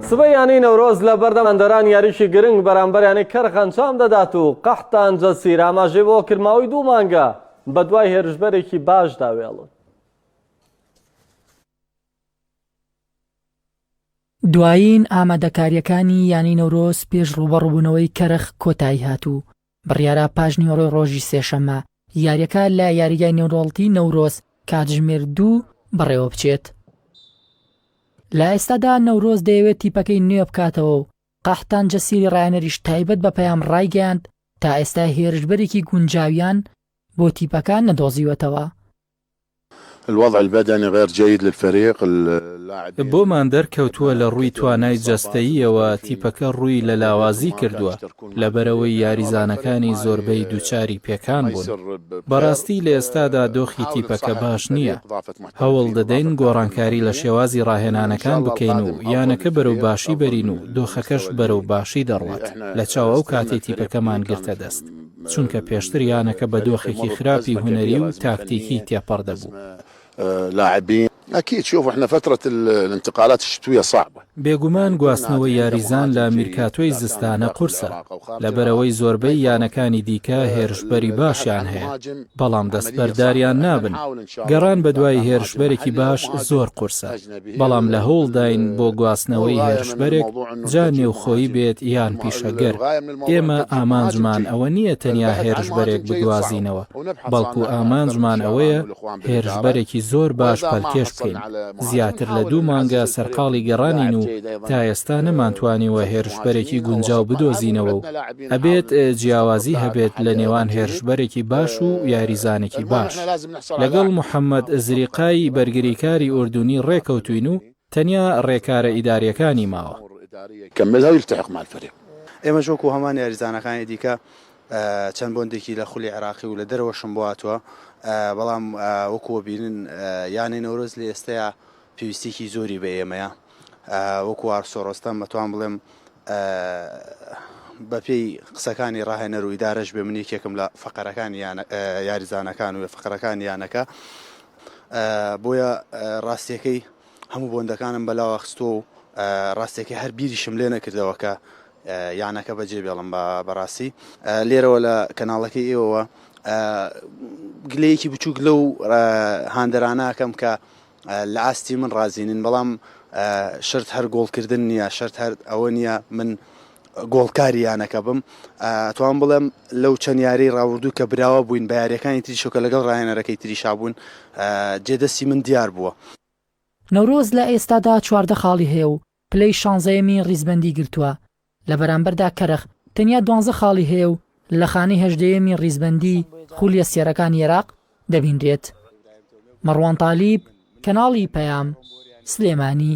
سبەی یانەی نەورۆز لە بەردەم ئەندەران یاریکی گرنگ بەرامبەر یانەی کەرخ ئەنجام دەدات و قەحتان جەسیر ئاماژەی بەوە کرد ماوەی دوو مانگە بەدوای هێرشبەرێکی باشدا وێڵن دوایین ئامادەکارییەکانی یانەی نەورۆز پێش ڕووبەڕووبوونەوەی کەرخ کۆتایی هات و بڕیارا پاشنیوەڕۆی ڕۆژی سێشەممە یارییەکە لە یاریگای نێودەوڵەتیی نەورۆز کاتژمێر دوو بەڕێوەبچێت. لە ئێستادا نەورۆز دەیەوێت تیپەکەی نوێ بکاتەوە و قەحتان جەسیری ڕایانەریش تایبەت بە پەیام ڕایگەیاند، تا ئێستا هێرشبەرێکی گونجاویان بۆ تیپەکە نەدۆزیوەتەوە. الوضع البدنی غیر جید للفریق اللاعبین. بۆمان دەرکەوتووە لە ڕووی توانای جەستەییەوە تیپەکە ڕووی لە لاوازی کردووە، لەبەرئەوەی یاریزانەکانی زۆربەی دووچاری پێکان بوون. بەڕاستی لە ئێستادا دۆخی تیپەکە باش نییە. هەوڵ دەدەین گۆڕانکاری لە شێوازی ڕاهێنانەکان بکەین و یانەکە بەرەو باشی بەرین و دۆخەکەش بەرەو باشی دەڕوات لەچاو ئەو کاتەی تیپەکەمان گرتە دەست. چونکە پێشتر یانەکە بە دۆخێکی خراپی هونەری و تاکتیکی تێپەڕ دەبوو. بێگومان گواستنەوەی یاریزان لە میرکاتۆی زستانە قورسە، لەبەرئەوەی زۆربەی یانەکانی دیکە هێرشبەری باشیان هەیە، بەڵام دەستبەرداریان نابن، گەڕان بەدوای هێرشبەرێکی باش زۆر قورسە. بەڵام لە هەوڵداین بۆ گواستنەوەی هێرشبەرێک جا نێوخۆیی بێت یان پیشەگەر، ئێمە ئامانجمان ئەوە نییە تەنیا هێرشبەرێک بگوازینەوە، بەڵکو ئامانجمان ئەوەیە هێرشبەرێکی زۆر باش پەلکێش بکەین، زیاتر لە دوو مانگە سەرقاڵی گەڕانین و تا ئێستا نەمانتوانیوە هێرشبەرێکی گونجاو بدۆزینەوە و ئەبێت جیاوازی هەبێت لە نێوان هێرشبەرێکی باش و یاریزانێکی باش. لەگەڵ محەمەد زریقای بەرگریکاری ئوردونی ڕێکەوتووین و تەنیا ڕێکارە ئیدارییەکانی ماوە. ئێمەش وەکو هەمان یاریزانەکانی دیکە چەند بۆندێکی لە خولی عێراقی و لە دەرەوەشم بۆاتوە، بەڵام وەکو وەبینن یانەی نەورۆز لە ئێستەیا پێویستیەکی زۆری بە ئێمەیە وەکو وارسۆ ڕۆستەم بەتوان بڵێم بەپێی قسەکانی ڕاهێنەر و ئیدارەش بێ من یەکێکم لە فقەرەکان یاریزانەکان و فقەرەکان یانەکە بۆیە ڕاستیەکەی هەموو بۆندەکانم بەلاوە خستۆ و ڕاستێکی هەر بیریشم لێ نەکردەوە کە یانەکە بەجێ بێڵم بە بەڕاستی لێرەوە لە کەناڵەکەی ئێوەوە گلەیەکی بچووک لەو هاندەراناکەم کە لە ئاستی من ڕازی نین بەڵام شەرت هەر گۆڵکردن نییە شەرت هەر ئەوە نییە من گۆڵکاری یانەکە بم ئەتوان بڵێم لەو چەند یاری ڕاوردوو کە براوە بووین بە یاریەکانی تری شۆکە لەگەڵ ڕایەنەرەکەی تریشا بوون جێدەستی من دیار بووە. نەورۆز لە ئێستادا چواردە خاڵی هەیە و پلەی شانزەیەمی ڕیزبەندی گرتووە، لە بەرامبەردا کەرخ تەنیا دوانزە خاڵی هەیە و لە خانەی هەژدەیەمی ڕیزبەندی خولیە سێرەکانی ئێراق دەبینرێت. مەڕوان تالیب، کەناڵی پەیام، سلێمانی.